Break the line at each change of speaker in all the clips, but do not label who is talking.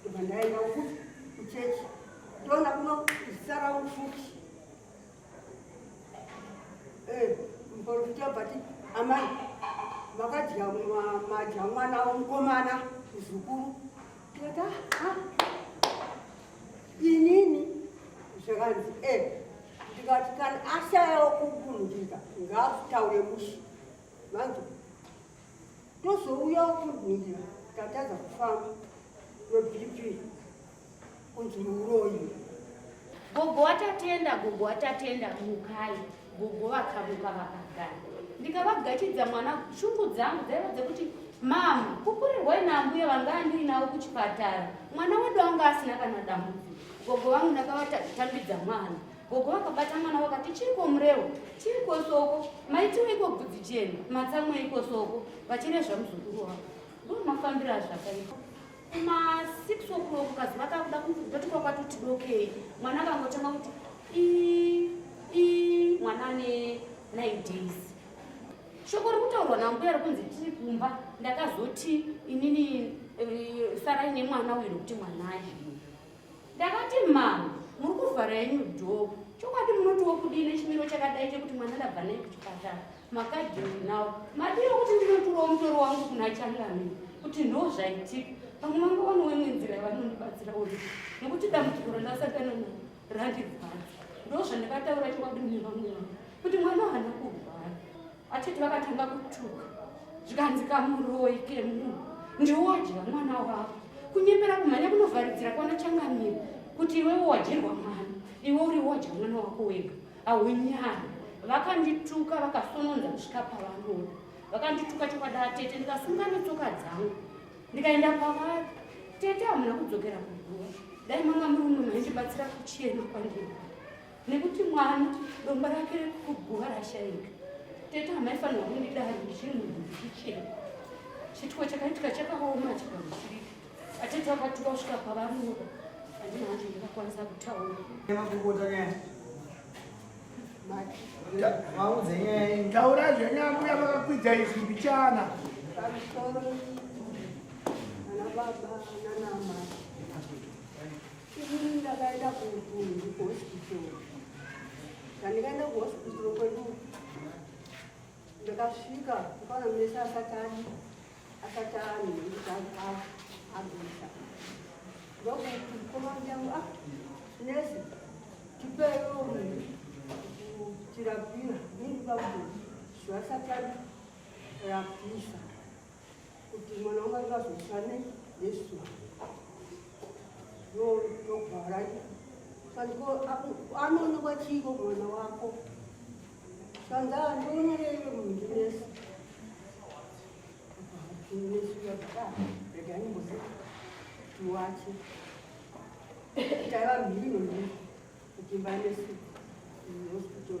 ndobva ndaenda uku kuchechi ndoona kuno zisara ufuki eh, muporofita bati amai vakadya madya mwana womukomana muzukuru teta ah, inini zvakanzi e eh, ndikati kana ashayawo kubundika ngaakutaure mushi vanzi tozouyawo kurwira tatadza kufamba nebp kunzi muroyi gogo
watatenda gogo watatenda mukai gogo vakamuka vakagara ndikavagachidza mwana shungu dzangu dzaiva dzekuti mama kukurirwa inambuya vanga andiinawo kuchipatara mwana wedu anga asina kana dambudziko gogo vangu ndakavatambidza mwana Gogo vakabata mwana vakati chiriko murewo chiriko soko maitiweiko bvudzi jena matsamweiko soko vachirezva muzukuru wavo ndomafambira zvakaipa kuma six o'clock kazi vakakuda kundoti kwakwatoti dokei mwana akangotanga kuti i i mwana ane nine days shoko ri kutaurwa nambuya ri kunzi tiri kumba ndakazoti inini eh, sarai nemwana uyu nokuti mwana aii ndakati mama muri kuvhara yenyu dhoo chokwadi munotiwo kudii nechimiro chakadai chekuti mwana ndabva nei kuchipatara makadini nawo madiwo kuti ndinoturawo mutoro wangu kuna changami kuti ndo zvaitika pamwe manga wani wemwe nzira yavanondibatsira uri nekuti dambudziko randasakana na randivhara ndo zvandakataura chokwadi mune vamwe vangu kuti mwana hana kurwara Vachiti vakatanga kutuka zvikanzi kamuroyi kemunhu ndiwodya mwana wavo kunyepera kumhanya kunovharidzira kwana changamire kuti iwewo wadyirwa mwana iwe uri wodya mwana wako wega haunyari vakandituka vakasononza kusvika pavanoda vakandituka chokwadi atete ndikasunga netsoka dzangu ndikaenda pavari tete hamuna kudzokera kuguva dai manga muri uno maindibatsira kuchena kwandiri nekuti mwana anoti domba rake rekuguva rashaika tete hamaifanirwa kundidaro ndichiri munhu ndichichena chituko chakaitika chakaoma chikamusirika atete akatuka kusvika pavanoda andina hanzi ndingakwanisa kutaura
taura zvenyambuya vakakwidza izwi mbichana pamusoro
ana baba nanamai Ini ndakaenda kuhospital. Ndandikaenda kuhospital kwedu ndakasvika kukaona mese asati adi asati ani nekuti agwisa ndokuti komandi yangu a nesi tipewo tirapira nini bakuti zvasati arapisa kuti mwana wangu akazosane nesu yogara sandiko anoonekwa chiiko mwana wako sandaa ndionyereyo munhu nesi regaimbozi tiwache taiva mhino ne kutimba nesu hospital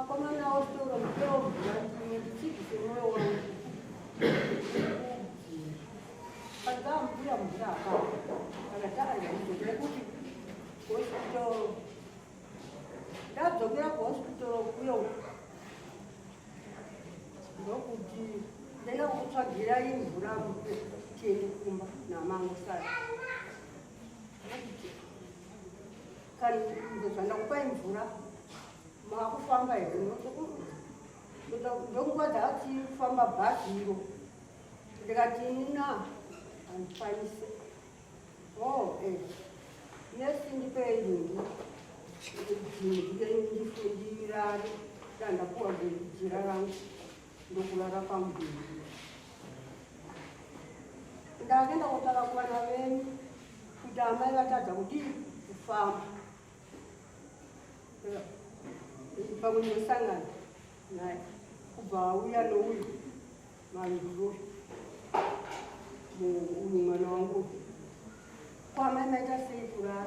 Akomana otoro mkeo mwanzimwe ndichibvise mwoyo wangu. Padzaa mvura mvura apa. Akadara ndaizokuda kuti hospital. Ndadzokera kuhospital kuyo. Ndokuti ndaenda kutsvagira imvura mupe tiende kumba namangu sara. Ndakupai mvura makufamba here ndokuva dzaatifamba bhazi iro ndikati nina handikwanise o oh, e eh. nesi ndipei nhingi ndifundira ndandapuwa jira rangu ndokurara pamudhuri ndakaenda kotara kuvana venyu kuti amai vatadza kudii kufamba pamwe ndinosangana naye kubva auya nouyu manzuro uyu mwana wangu kwamai maita sei kurara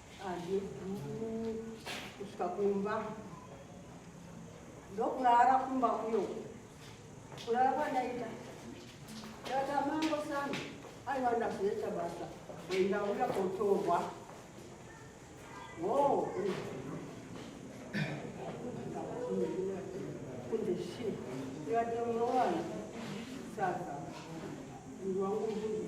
kusvika kumba ndokurara kumba kuyo kurara kwandaita tata mango sana aiva ndazoita basa ndauya kotorwa wo kunze shi ndikati munowana sasa mndu wangu mbuzi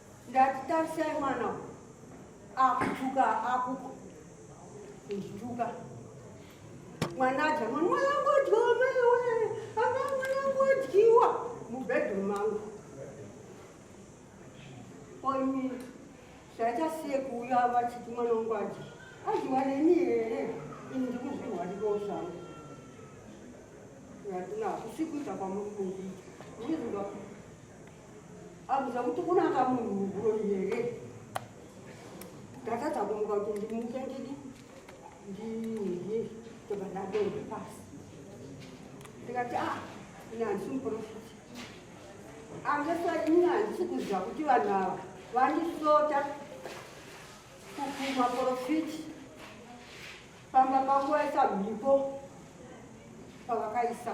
ndati tarisai mwana akutuka akuko kundituka mwana adya mwana mwanangodyiwa maiwe ana mwanangodyiwa mubedroom mangu oimi zvachasiye kuuya vachiti mwana wangu adyi adyiwa neni here ini ndikuzvirwarirawo zvangu yatina hakusi kuita kwamuri kundiita Akuza kuti kunaka munhu muguro here? Ndatadza kumuka kuti ndimuke ndidi ndidye ndobva ndadonha pasi. Ndikati ah ini handisi muprofiti. Angesa ini handisi kuziva kuti vanhu ava vandisota kukuma profiti pamba pangu vaisa mhipo pavakaisa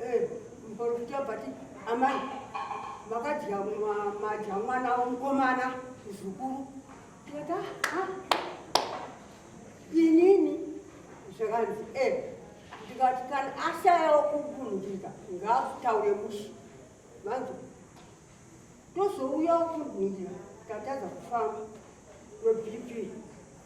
Eh, muporofita vati amai vakadya madya mwana womukomana muzukuru teta inini zvakanzi e eh, ndikati kana ashayawo kubundika ngaakutaure mushi vanzi tozouyawo kubundika tatadza kufamba nobp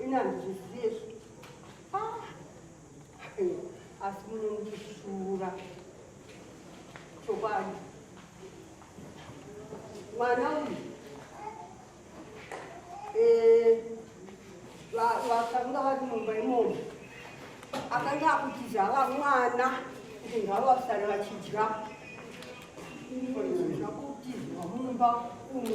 ini handizviziye ah. asi munondishura chokwadi mwana uyu eh, vakanga vari mumba imomo akanga akutiza ava mwana kuti ngavo vasare vachidya zvakutizwa mumba umu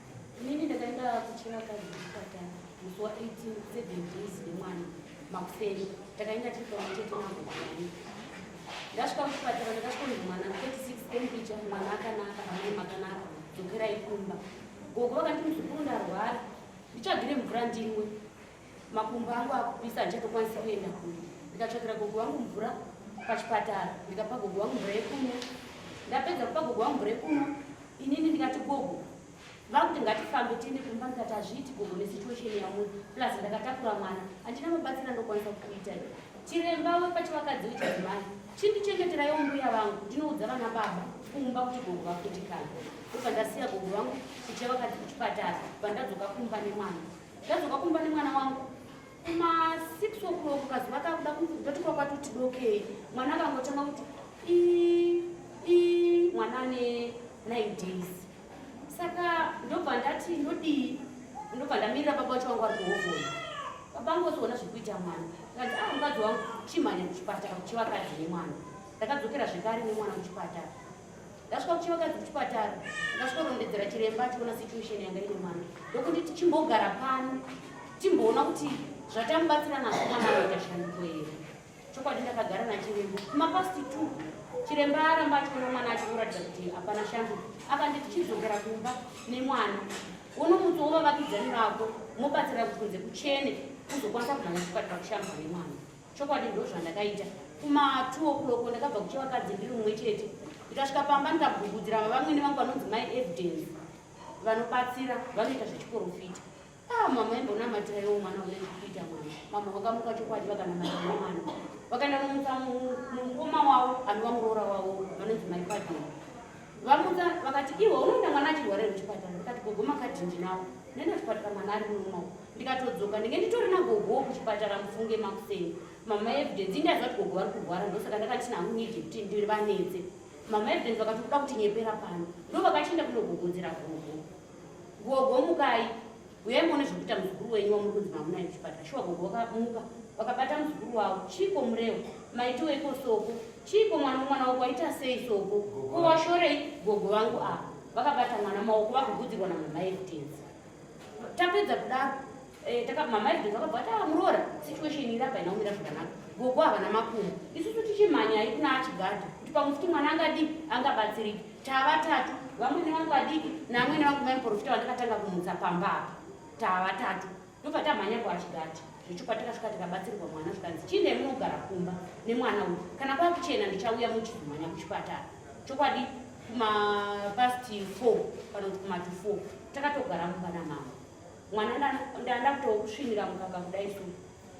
Inini ndakaenda kuchera kadzi kuchipatara musi wa 18 seven days nemwana makuseni takaenda tiri pamutete nagoani ndasvika kuchipatara ndakasvika kunzi mwana 36 tempicha mwana akanaka amai makanaka dzokerai kumba gogo vakati muzukuru ndarwara ndichagire mvura ndinwe makumbo angu akupisa handichatokwanisa kuenda kure ndikatsvakira gogo wangu mvura pachipatara ndikapa gogo wangu mvura yekumwa ndapedza kupa gogo wangu mvura yekumwa inini ndikati gogo vakuti ngatifambe tiende kumba ndikati hazviiti gogo nesituation yamwe plus ndakatakura mwana handina mabatsira ndokwanisa kuita chiremba wepachivakadzi wechadzimai chindichengeterayo mbuya vangu ndinoudza vana baba kumba kuti gogo vakundikana ndobva ndasiya gogo vangu kuchevakadzi kuchipatara vandadzoka kumba nemwana Ndadzoka kumba nemwana wangu kuma 6 o'clock kazuva kakuda ndotikwa kwatuti dokei mwana akangotanga kuti i i mwana ane 9 days saka ndobva ndati ndodii ndobva ndamirira baba wacho wangu ari kuhovhoi baba angu ozoona zvekuita mwana kanzi a ah, mukadzi wangu chimhanya kuchipatara kuchivakadzi nemwana ndakadzokera zvekare nemwana kuchipatara ndasvika kuchivakadzi kuchipatara ndasvikorondedzera chiremba achiona situation yanga ine mwana ndokuti tichimbogara pano timboona kuti zvatamubatsira nazvo mwana anoita shanduko here chokwadi ndakagara nachiremba kumapasti two chiremba aramba achiona mwana achikuratidza kuti hapana shanduko akandi tichidzokera kumba nemwana uno mutsi wovavakidzani vako mobatsira kukunze kuchene kuzokwanisa kumhanya chipatara kushambwa nemwana chokwadi ndozvandakaita kuma 2 o'clock ndakabva kuche vakadzi ndiri umwe chete ndikasvika pamba ndikagugudzira vavamwene vangu vanonzi mai evidence vanobatsira vanoita zvechiporofita ah mama imbonamatira iwo mwana une zvekuita mwana mama vakamuka chokwadi vakanamatira mwana vakaenda nomutsa mukoma wavo anova muroora wavo vanonzi mai padini vamutsa vakati iwe unoenda mwana achirwarira kuchipatara ndikati gogo makadhindi nawo nenda chipatara mwana ari munomawo ndikatodzoka ndinge nditori nagogowo kuchipatara mufunge makuseni mama evidence indaziva kuti gogo vari kurwara ndosaka ndakati nangu nidi kuti ndivanetse mama evidence vakati kuda kuti nyepera pano ndo vakachienda kunogogodzera gogo gogo mukai uyai muone zvekuita muzukuru wenyu wamuri kunzi mamunaye kuchipatara shuwa gogo vakamuka vakabata muzukuru wavo chiiko murewo maitiweiko soko chiiko mwana wemwana wako waita sei soko ko washorei gogo vangu ava vakabata mwana maoko vakugudzirwa namama evidence tapedza kudaro eh, mamaizidzi vakabva kuti ah, muroora situation iri apa inaumira zvakanaka gogo havana makumo isusu tichimhanyai kuna achigadha kuti pamwe futi mwana angadii angabatsiriki tavatatu vamwene vangu vadiki naamwene vangu mai muporofita vandakatanga kumutsa pamba apa tavatatu ndobva tamhanya kuachigadha zvechokwadi takasvika tikabatsirwa mwana zvikanzi chiine munogara kumba nemwana uyu kana kwakuchena ndichauya muchizomhanya kuchipatara chokwadi kumapasti four kana kuti kumati four takatogara mumba namama mwana ndanda kutousvinira mukaka kudai so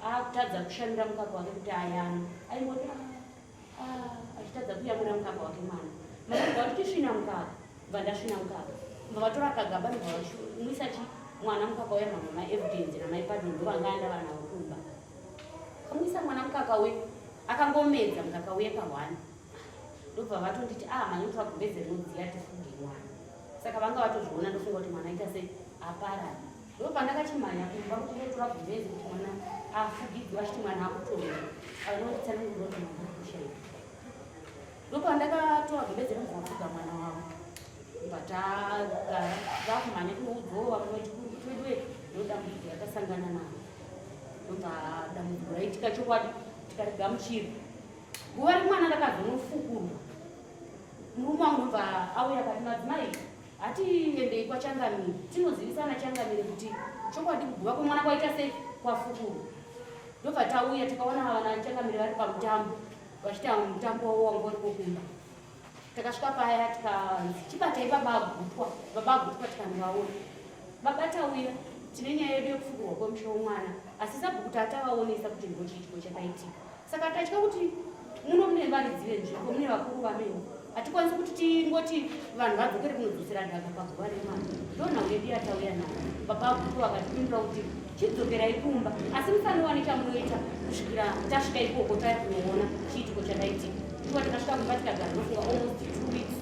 akutadza kushamira mukaka wake kuti ayana aingoti ah, ah, achitadza kuyamura mukaka wake mwana maaiva kuti tisvina mukaka bva ndasvina mukaka bva vatora kagaba ndobva vamwisa chi mwana mukaka uya mama maevidence namaipado ndovanga anda vana vakumba kamwisa mwana mukaka we akangomedza mukaka uye pahwani ndobva vatonditi ah manyoto vagumbeze rinodziya tifunge mwana saka vanga vatozviona ndofunga kuti mwana aita sei apara ndo pandakachimhanya kumba kuti ndotora gumbeze kuti mwana afugidzwa achiti mwana akutoa anonditsananguroti mwana akushaia ndo pandakatora gumbeze ringoafuga mwana wavo mbatagara vakumhanya kunoudzova kunotiweduwe ndodambudziko ratasangana navo ndobva dambudziko raitika chokwadi tikarigamuchiri guva remwana rakazonofukurwa murume wangu ndobva auya kati madzimai hatiendei kwachangamire tinozivisana changamire kuti chokwadi kuguva kwemwana kwaita sei kwafukurwa ndobva tauya tikaona vana changamire vari pamutambo vachita mutambo wavo wanga uri kokumba takasvika paya tikanzi chibatai babagutwa babagutwa tikandivaona baba tauya tine nyaya yedu yekufukurwa kwemusho womwana asi sabhuku tatavaonesa kuti ngochiitiko chakaitika saka tatya kuti muno mune varidzi venzvimbo mune vakuru vamene hatikwanisi kuti tingoti vanhu vadzokere kunodzosera dhaka paguva remwana ndonhau yedu yatauya nayo baba vakuru vakatipindura kuti chidzokerai kumba asi musanowane chamunoita kusvikira tasvika ikoko taya kunoona chiitiko chakaitika iwa tikasvika kumba tikagara nofunga almost two weeks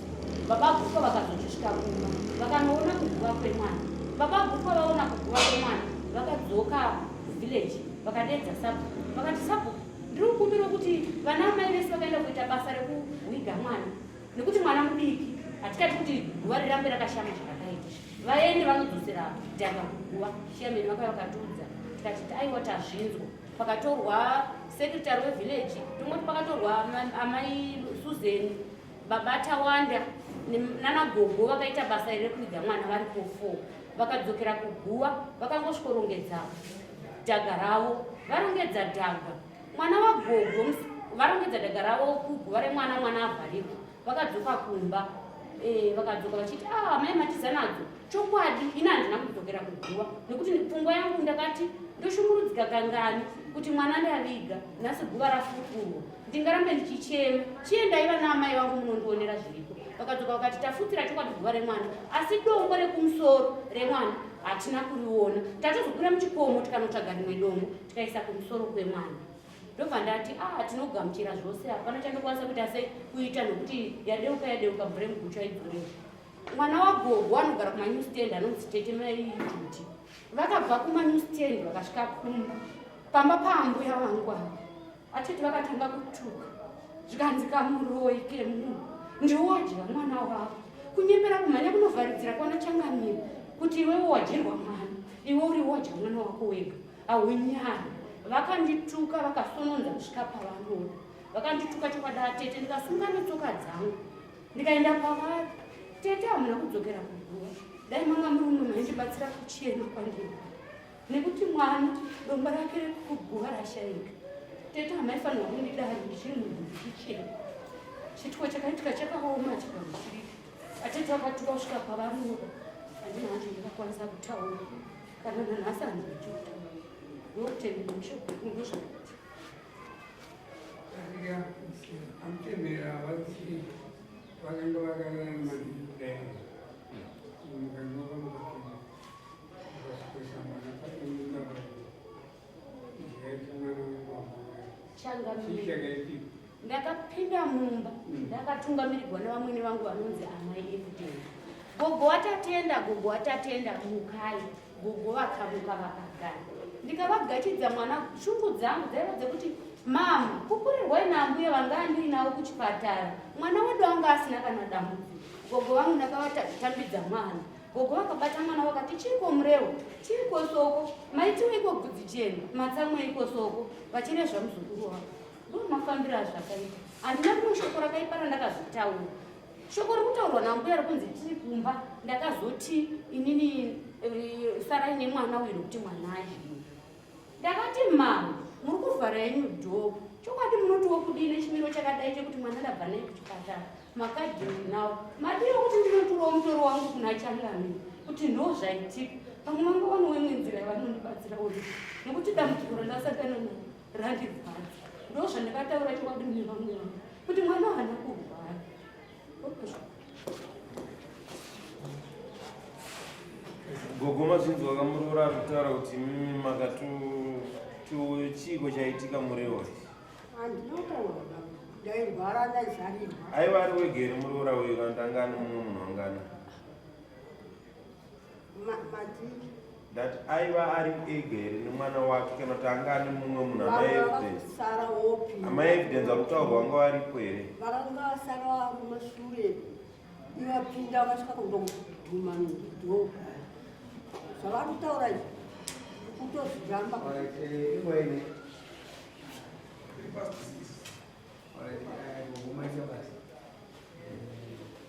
baba gutwa vakazochisvika kumba vakanoona kuguva kwemwana baba gutwa vaona kuguva kwemwana vakadzoka village vakadeedza sabhuku vakati sabhuku ndiri kukumbira kuti vana amai vese vakaenda kuita basa rekuhwiga mwana nekuti mwana mudiki hatikati kuti guva rirambe rakashama zvakakaita vaende vanodzosera dhaka kuguva shiyameni vakava vakatiudza tikati aiwa tazvinzwa pakatorwa sekretary wevillage tomoti pakatorwa amai susan baba tawanda nanagogo vakaita basa iri rekuhwiga mwana vari kufo vakadzokera kuguva vakangosvikorongedzawo dhaga ravo varongedza dhaga mwana wagogo varongedza dhaga ravo kuguva remwana mwana avharirwa vakadzoka kumba eh, vakadzoka vachiti a ah, mai matiza nadzo chokwadi ini handina kudzokera kuguva nekuti pfungwa yangu ndakati ndoshungurudzika kangani kuti mwana ndaviga nhasi guva rafukurwa ndingarambe ndichichema chiye ndaiva naamai vangu munondionera zviriko vakadzoka vakati tafutsira chokwadi zuva remwana asi dongo rekumusoro remwana hatina kuriona tatozokwira muchikomo tikanotsvaga rimwe dongo tikaisa kumusoro kwemwana ndobva ndati a ah, tinogamuchira zvose hapana chandokwanisa kuita sei kuita nokuti yadeuka yadeuka mvura yemugutsva idzorei mwana wagogo anogara kumanew stand anonzi tete maijuti vakabva kumanew stand vakasvika kumba pamba paambuya vangu ava Vachiti vakatanga kutuka zvikanzi kamuroyi kemunhu ndiwodya mwana wavo kunyepera kumhanya kunovharidzira kwana changamire kuti iwewo wadyirwa mwana iwe uri wodya mwana wako wega haunyari vakandituka vakasononza kusvika pavanoda vakandituka chokwadi atete ndikasunga netsoka dzangu ndikaenda pavari tete hamuna kudzokera kuguva dai manga muri uno maindibatsira kuchena kwandiri nekuti mwana anoti domba rake rekuguva rashaika tete hamaifanirwa kundidaro ndichiri munhu ndichichena chituko chakaitika chakaoma chikamusirika atete akatuka kusvika pavanoda andina hanzi ndingakwanisa kutaura kana nanhasi hanzi ndichiuta ndokutendera mushoko kunge zvakati
amutendera vati vakanga vakanana maningi
ndakapinda mumba ndakatungamirigwa nevamwene vangu vanonzi amai evudeni gogo watatenda gogo watatenda mukai gogo vakamuka vakagara ndikavagachidza mwana shungu dzangu dzaiva dzekuti mama kukurirwai naambuya vanga andiinavo kuchipatara mwana wedu anga asina kana dambudziko gogo vangu ndakavatambidza mwana Gogo vakabata mwana vakati chiiko mureo chiiko soko maitiweiko bvudzi jena matsamweiko soko vachirezva muzukuru wavo ndomafambiro azvakaita handina rimwe shoko rakaipa randakazvitaura shoko rikutaurwa nambuya rikunzi tiri kumba ndakazoti inini eh, sarai nemwana uyu nokuti mwana azvii ndakati mama muri kuvhara yenyu dhoo chokwadi munoti wokudii nechimiro chakadai chekuti mwana ndabva nei kuchipatara makadini nawo madii okuti ndinoturawo mutoro wangu kuna changami kuti ndo zvaitika pamwe vanga vano wemwe nzira yavanondibatsira uri nekuti dambudziko randasakana na randivhadza ndo zvandakataura chokwadi mune vamwe vangu kuti mwana hana kurwara
Gogoma zvinzi wakamuroora akutaura kuti mm, makatu chiiko chaitika murewa
aiva ari wegere
muroora uyo kana tangani mumwe munhu angana
madiki ndati
aiva ari ega here nemwana wake kana kuti anga ane mumwe munhu amaevidence akutaurwa
vanga
varipo here
vakanga
vasara kumashure
ivapinda vasvika kundoguma ndio zvavari kutaura izvi kutozviramba All
right, uh, we'll make your best.